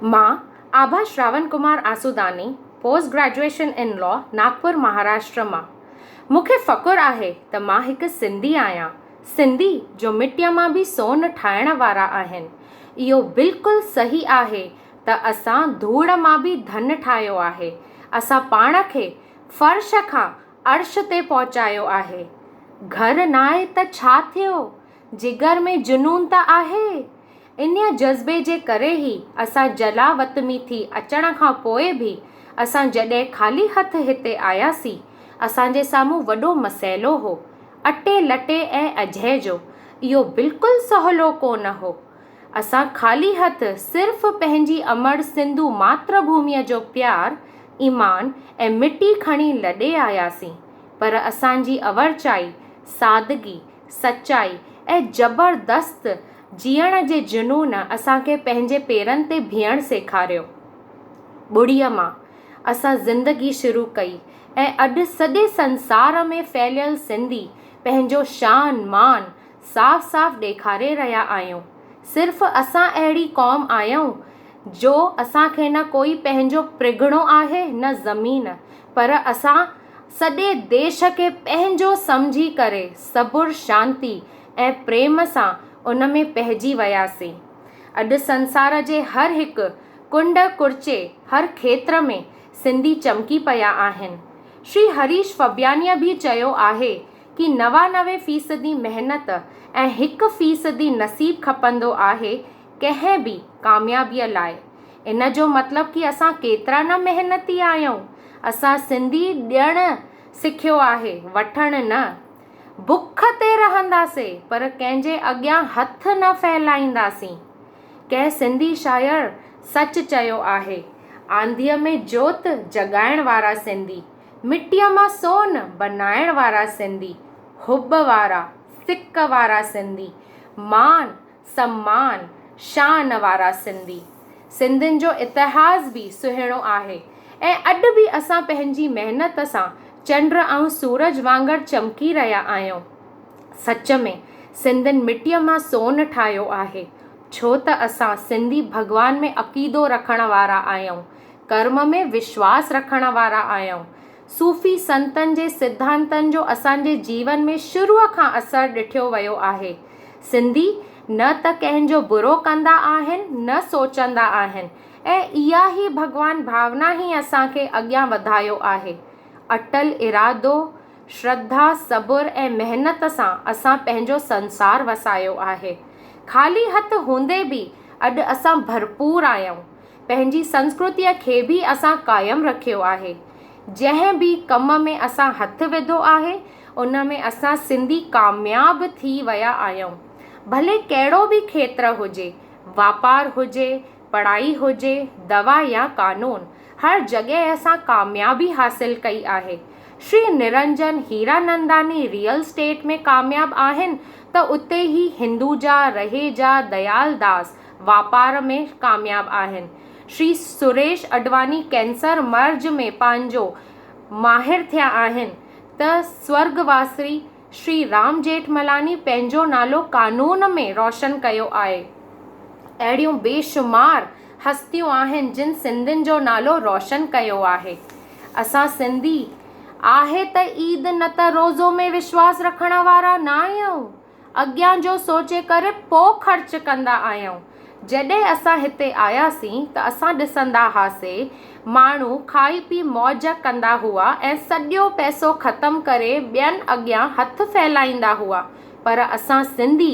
مان Abha Shravan Kumar Asudani, post graduation in law, Nagpur Maharashtra مان. مون کي فخر آهي ته مان هڪ سنڌي آهيان، سنڌي جو مٽيء مان به سون ٺاهڻ وارا آهن. اهو بلڪل صحيح آهي ته اسان ڌوڙ مان به ڌن ٺاهيو آهي، اسان پاڻ کي فرش کان عرش تي پهچايو آهي. گهر ناهي ته ڇا ٿيو؟ جگر ۾ جنون ته آهي. انهيء جذبي جي ڪري ئي اسان جلاوطني ٿي اچڻ کان پوء به اسان جڏهن خالي هٿ هتي آياسين، اسان جي سامهون وڏو مسئلو هو. اٽي لٽي ۽ اجهي جو. اهو بلڪل سهلو ڪو نه هو. اسان خالي هٿ صرف پنهنجي امڙ سنڌو ماتر ڀوميء جو پيار، ايمان ۽ مٽي کڻي لڏي آياسين، پر اسان جي اورچائي، سادگي، سچائي ۽ زبردست جيئڻ جي جنون اسان کي پنهنجي پيرن تي بيهڻ سيکاريو. ٻڙيء مان اسان زندگي شروع ڪئي ۽ اڄ سڄي سنسار ۾ ڦهليل سنڌي پنهنجو شان مان صاف صاف ڏيکاري رهيا آهيون. صرف اسان اهڙي قوم آهيون جو اسان کي نه ڪوئي پنهنجو پرڳڻو آهي نه زمين پر اسان سڄي ديش کي پنهنجو سمجهي ڪري صبر، شانتي ۽ پريم سان ان ۾ پهجي وياسين. اڄ سنسار جي هر هڪ ڪنڊ ڪڙچي، هر کيتر ۾ سنڌي چمڪي پيا آهن. شري هريش فبيانيء به چيو آهي ڪي نوانوي فيصدي محنت ۽ هڪ فيصدي نصيب کپندو آهي، ڪنهن به ڪاميابيء لاء ان جو مطلب ڪي اسان ڪيترا نه محنتي آهيون. اسان سنڌي ڏيڻ سکيو آهي، وٺڻ نه. بک تي رهنداسين پر ڪنهن جي اڳيان هٿ نه ڦهلائينداسين. ڪنهن سنڌي شاعر سچ چيو آهي، آنڌيء ۾ جوت جڳائڻ وارا سنڌي، مٽيء مان سون بنائڻ وارا سنڌي، حب وارا، سڪ وارا سنڌي، مان، سمان، شان وارا سنڌي. سنڌين جو اتهاس به سهڻو آهي ۽ اڄ به اسان پنهنجي محنت سان چنڊ ۽ سورج وانگر چمڪي رهيا آهيون. سچ ۾ سنڌين مٽيء مان سون ٺاهيو آهي. ڇو ته اسان سنڌي ڀڳوان ۾ عقيدو رکڻ وارا آهيون، ڪرم ۾ وشواس رکڻ وارا آهيون. صوفي سنتن جي سڌانتن جو اسان جي جيون ۾ شروع کان اثر ڏٺيو ويو آهي. سنڌي نه ته ڪنهن جو برو ڪندا آهن نه سوچندا آهن ۽ اها ئي ڀڳوان ڀاونا ئي اسان کي اڳيان وڌايو آهي. اٽل ارادو، شرڌا، صبر ۽ محنت سان اسان پنهنجو سنسار وسايو آهي. خالي هٿ هوندي به اڄ اسان ڀرپور آهيون. پنهنجي سنسڪرتيء کي به اسان قائم رکيو آهي. جنهن به ڪم ۾ اسان هٿ وڌو آهي، ان ۾ اسان سنڌي ڪامياب ٿي ويا آهيون. ڀلي ڪهڙو به کيتر هجي، واپار هجي، پڙهائي هجي، دوا يا قانون، هر جڳهه اسان ڪاميابي حاصل ڪئي آهي. شري نرنجن هيراننداني ريئل اسٽيٽ ۾ ڪامياب آهن ته اتي ئي هندوجا، رهيجا، ديالداس، واپار ۾ ڪامياب آهن. شري سريش اڏواني ڪينسر مرض ۾ پنهنجو ماهر ٿيا آهن ته سورڳواسري شري رام جيٺملاني پنهنجو نالو قانون ۾ روشن ڪيو آهي. اهڙيون بيشمار هستيون آهن جن سنڌين جو نالو روشن ڪيو آهي. اسان سنڌي آهي ته عيد نه ته روزو ۾ وشواس رکڻ وارا نه آهيون. اڳيان جو سوچي ڪري پوء خرچ ڪندا آهيون. جڏهن اسان هتي آياسين ته اسان ڏسندا هئاسي ماڻهو کائي پي موج ڪندا هئا ۽ سڄو پئسو ختم ڪري ٻين اڳيان هٿ ڦهلائيندا هئا پر اسان سنڌي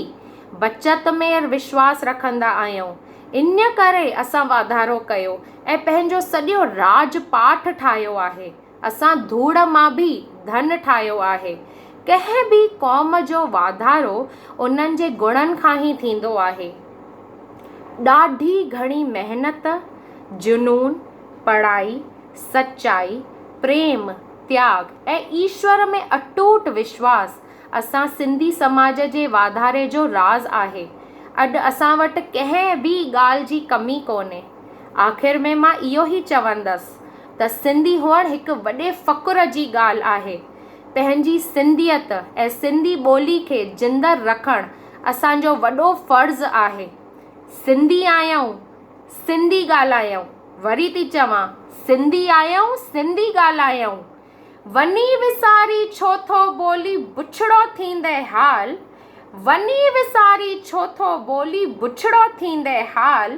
بچت ۾ وشواس رکندا آهيون ان ڪري اسان واڌارو ڪيو ۽ پنهنجو سڄو راڄ پاٺ ٺاهيو آهي. اسان ڌوڙ مان به ڌن ٺاهيو آهي. ڪنهن به قوم جو واڌارو انهن جي گڻن کان ئي ٿيندو آهي. ڏاڍي گهڻي محنت، جنون، پڙهائي، سچائي، پريم، تياڳ ۽ ايشور ۾ اٽوٽ وشواس اسان سنڌي سماج جي واڌاري جو راز آهي. اڄ اسان وٽ ڪنهن به ڳالهه جي ڪمي ڪونهي. آخر ۾ مان اهو ئي چوندس. ته سنڌي هئڻ هڪ وڏي فخر جي ڳالهه آهي. پنهنجي سنڌيت ۽ سنڌي ٻولي کي زنده رکڻ اسان جو وڏو فرض آهي. سنڌي آهيون، سنڌي ڳالهايون، وري ٿي چوان، سنڌي آهيون، سنڌي ڳالهايون، وڃي وساري ڇو ٿو ٻولي بڇڙو ٿيندي حال، وڃي وساري ڇو ٿو ٻولي بڇڙو ٿيندي حال،